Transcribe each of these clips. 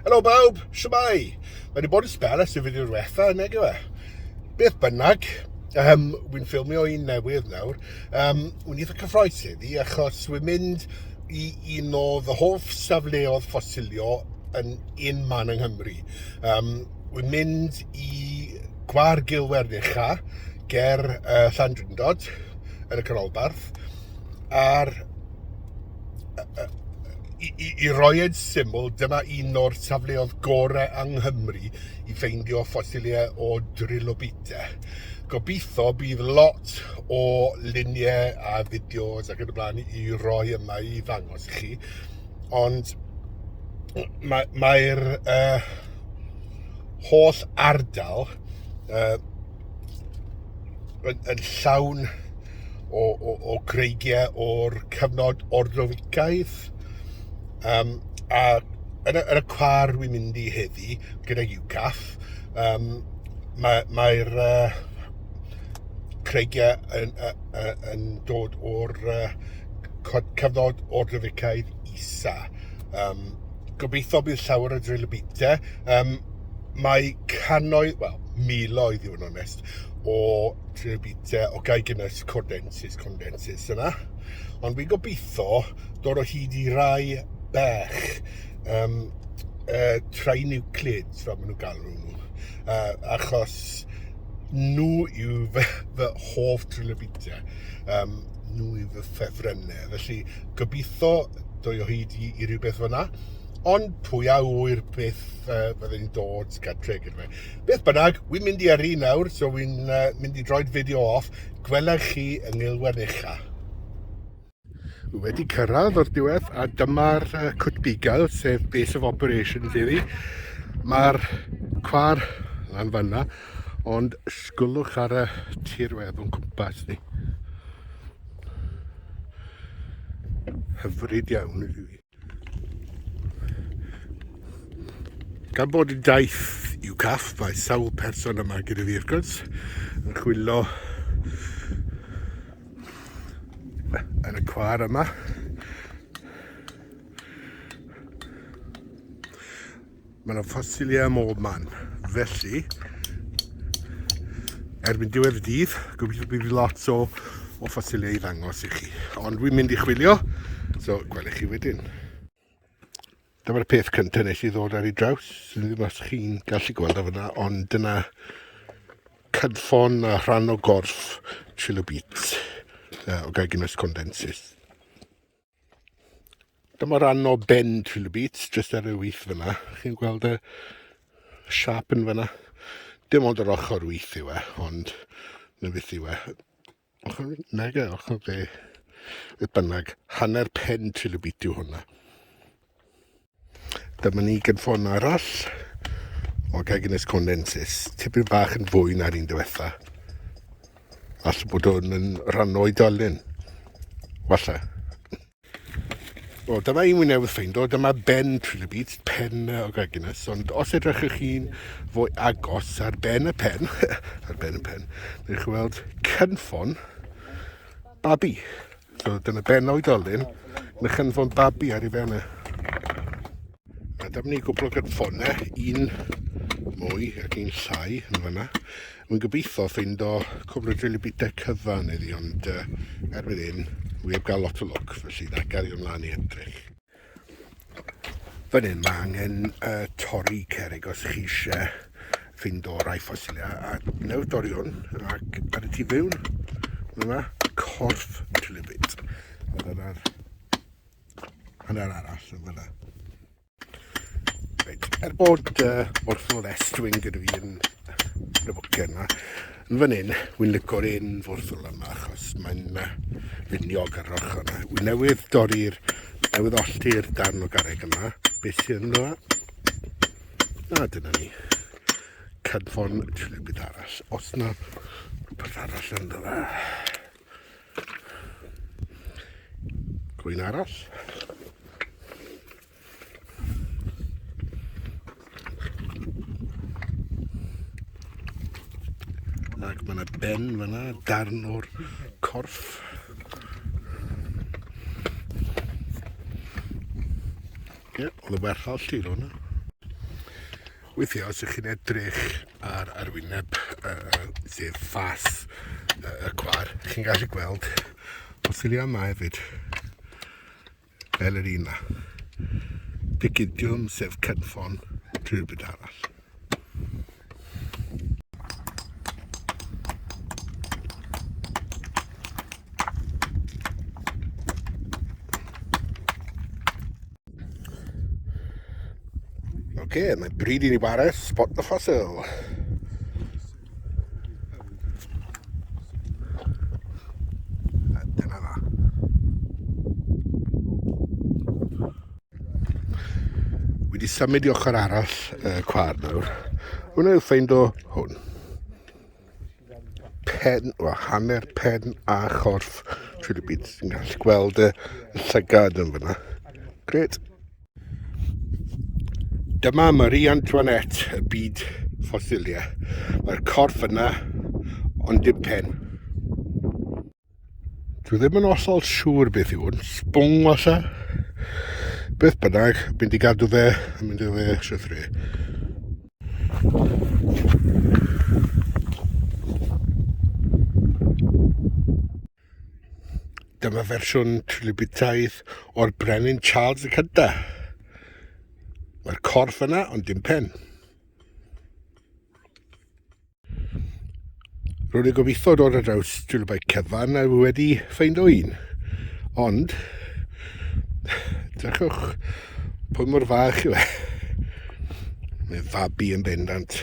Helo bawb, siwmai. Mae wedi bod yn spel ers y fideo diwetha, neg yw e? Beth bynnag, um, wy'n ffilmio un newydd nawr. Um, wy'n eitha cyffroes heddi, achos wy'n mynd i un o fy hoff safleodd ffosilio yn un man yng Nghymru. Um, Wi'n mynd i Gwar Gil Werddeucha ger uh, Llandrindod yn y canolbarth a'r i, i, i roi yn syml, dyma un o'r safleoedd gorau yng Nghymru i ffeindio ffosiliau o drilobite. Gobeithio bydd lot o luniau a fideos ac yn y blaen i roi yma i ddangos i chi, ond mae'r... Mae uh, holl ardal uh, yn, yn llawn o, o, o greigiau o'r cyfnod ordroficaidd. Um, a yn y, yn y car wy'n mynd i heddi gyda UCAF, um, mae'r mae, mae uh, creigiau yn, uh, uh, yn dod o'r uh, cyfnod ordroficaidd isa. Um, Gobeithio bydd llawer o drill y bite. Um, mae cannoedd, wel, miloedd i fod yn onest, o drill y bite, o gael gynnwys cordensis, condensis yna. Ond fi'n gobeithio dod o hyd i rai bech, um, uh, trai nuclid, fel maen nhw'n galw nhw. Uh, achos nhw yw fy, fy hoff drill y bite. Um, nhw i fy ffefrynnau. Felly, gobeithio dwy o hyd i, i rhywbeth fyna. Ond pwy a wyr beth uh, byddai'n dod gadre gyda fe. Beth bynnag, wy'n mynd i yrru nawr, so wy'n uh, mynd i droed fideo off. Gwelech chi yng Ngilwen Ucha. Wy wedi cyrraedd o'r diwedd a dyma'r uh, cwt bugail, sef base of operations iddi. Mae'r cwar lan fanna Ond sgwlwch ar y tirwedd o'n cwmpas ni. Hyfryd iawn i fi. Gan bod yn daith i'w caff, mae sawl person yma gyda fi wrth gwrs yn chwillo yn y cwar yma. Mae yna ffosiliau ym mhob man, felly erbyn diwedd y dydd, gobeithio bydd lot o, o ffosiliau i ddangos i chi. Ond dwi'n mynd i chwilio, so gwelwch chi wedyn. Dyma'r peth cyntaf nes i ddod ar ei draws, sy'n ddim os chi'n gallu gweld o fyna, ond dyna cynffon a rhan o gorff trilobites uh, o gaginus condensis. Dyma ran o Ben Trilobits, jyst ar y wyth fyna. Chi'n gweld y siap yn fyna? Dim ond yr ochr wyth yw e, ond na beth yw e. Ochr nag e, ochr dde. Beth bynnag, hanner pen Trilobit yw hwnna. Dyma ni gynffon arall o Gaginus condensis, tipyn bach yn fwy na'r un diwetha. Alla bod hwn yn rhan o'i dolyn. Walla. O, dyma un mwy newydd ffeindo, dyma ben trilobyd, pen o Gaginus, ond os edrychwch chi'n fwy agos ar ben y pen, ar ben y pen, neu chi weld cynffon babi. So dyna ben oedolyn, mae chynfon babi ar ei fewn e. A dyma ni gwbl o gynffonau, un mwy ac un llai yn fanna. Mae'n gobeithio ffeind o cwbl o drili bita cyfan iddi, ond uh, erbyn hyn, wy heb gael lot o lwc, felly na, gario ymlaen i edrych. Fan hyn mae angen uh, torri cerig os chi eisiau fynd o rai ffosiliau a newch dorri hwn ac ar y tu fewn mae yma corff trylifyd a dyna'r hanner arall yn fyna. Reit, er bod uh, morthol estwyn gyda fi yn y bwcen yma, Yn fan hyn, wy'n licio'r un forthwl yma achos mae'n uh, finiog ar yr ochr yna. Wy'n newydd dorri'r, newydd ollti'r darn o garreg yma. Beth sy'n ynddo? A dyna ni. Cynffon trilio byd arall. Os na, beth arall ynddo fe? Gwyn arall. Ac mae yna ben fyna, darn o'r corff. Ie, yeah, oedd y werth all ti hwnna. Weithiau, os ydych chi'n edrych ar arwyneb, uh, sef ffas uh, y cwar, chi'n gallu gweld ffosyliau yma hefyd. fel yr un yma. Picidiwm sef cynffon drwy'r byd arall. Oce, okay, mae bryd i ni wares spot the fossil. wedi symud i ochr arall y uh, cwar nawr. Hwna yw ffeind o hwn. Pen, o, hanner pen a chorff Philippines. Ti'n gallu gweld y llygad yn fyna. Gret. Dyma Marie Antoinette, y byd ffosilia. Mae'r corff yna, ond dim pen. Dwi ddim yn osol siŵr beth yw hwn, sbwng osa. Beth bynnag, mynd i gadw fe, mynd i fe sythru. Dyma fersiwn tributaidd o'r Brenin Charles y Cynta. Mae'r corff yna, ond dim pen. Rwy'n ei gobeithio dod ar draws trilybau cyfan a wedi ffeind o un. Ond, drachwch, pwy mor fach yw e? Mae fabi yn bendant.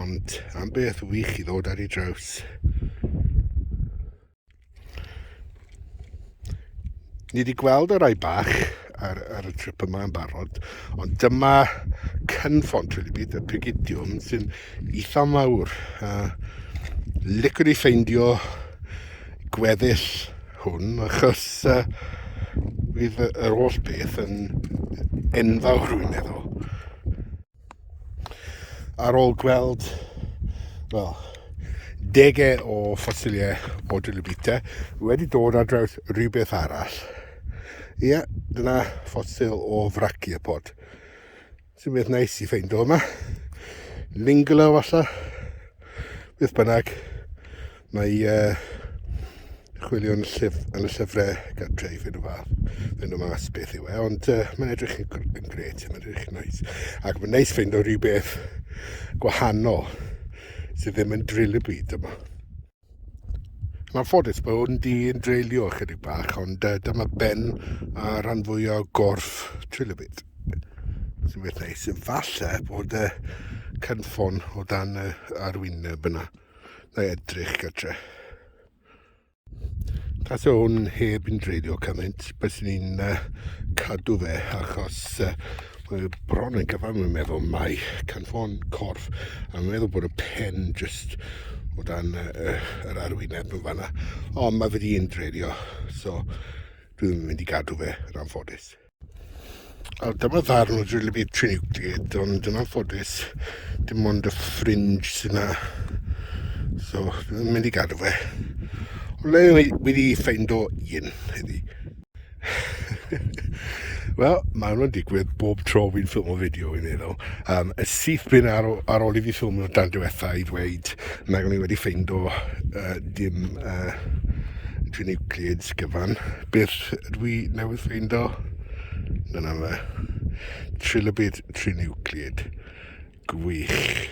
Ond am beth wych i ddod ar ei draws. Ni wedi gweld y rai bach ar, ar y trip yma yn barod, ond dyma cynffon Trilibid, y pigidiwm, sy'n eitha mawr. Uh, licwn i ffeindio gweddill hwn, achos uh, fydd yr holl beth yn enfawr, rwy'n meddwl. Ar ôl gweld, wel, degau o ffosiliau o Dilibita, wedi dod ar draws rhywbeth arall. Ia, dyna ffosil o fraciopod. Sy'n beth neis i ffeindo yma. Lingolo falle, beth bynnag. Mae uh, chwilio yn y, llyf, yn y llyfrau gadreif yn y fath. Fe nhw mas beth yw e, ond uh, mae'n edrych yn, yn gret, mae'n edrych yn neis. Ac mae'n neis fynd o rhywbeth gwahanol sydd ddim yn drill y byd yma. Mae'n ffodus bod yn di yn dreulio chydig bach, ond uh, dyma ben a rhan fwy o gorff drill y byd. Sy'n beth neis. Falle bod y uh, cynffon o dan y arwyneb yna. Na i edrych gytre. Tas o hwn heb yn dreiddio cymaint, bys ni'n uh, cadw fe achos uh, mae bron yn gyfan yn meddwl mai canfon corff a mae'n meddwl bod y pen just o dan uh, yr arwyneb yn fanna ond mae fe di'n dreiddio so dwi'n mynd i gadw fe yn anffodus A dyma ddarn o Drill Beat 318, ond yn anffodus, dim ond y ffrinj sy'n na. So, dwi'n mynd i gadw fe. Ond le wedi ffeind o un heddi. Wel, mae hwnna'n digwydd bob tro fi'n ffilm o fideo i meddwl. Um, y syth bin ar, ar ôl i fi ffilm o'r dan diwetha i ddweud nag o'n i wedi ffeind o uh, dim uh, dwi nucleads gyfan. Beth ydw i newydd ffeindo? Dyna fe. Trilobit trinucleid. Gwych.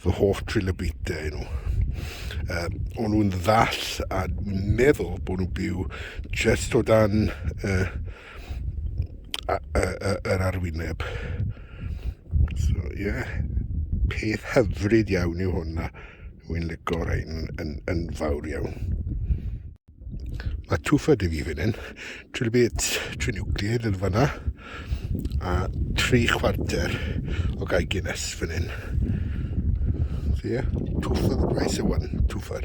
Fy hoff trilobitau nhw. Uh, o'n nhw'n ddall a dwi'n meddwl bod nhw'n byw just o dan uh, yr arwyneb. So, ie. Yeah. Peth hyfryd iawn yw hwnna. Wy'n licio rhain yn, yn, yn fawr iawn. Mae twfa dy fi fan hyn. Trilbyd, tri niwclear yn fanna. A tri chwarter o gael Guinness fan hyn. So ie, yeah, twfa the price of one, twfa.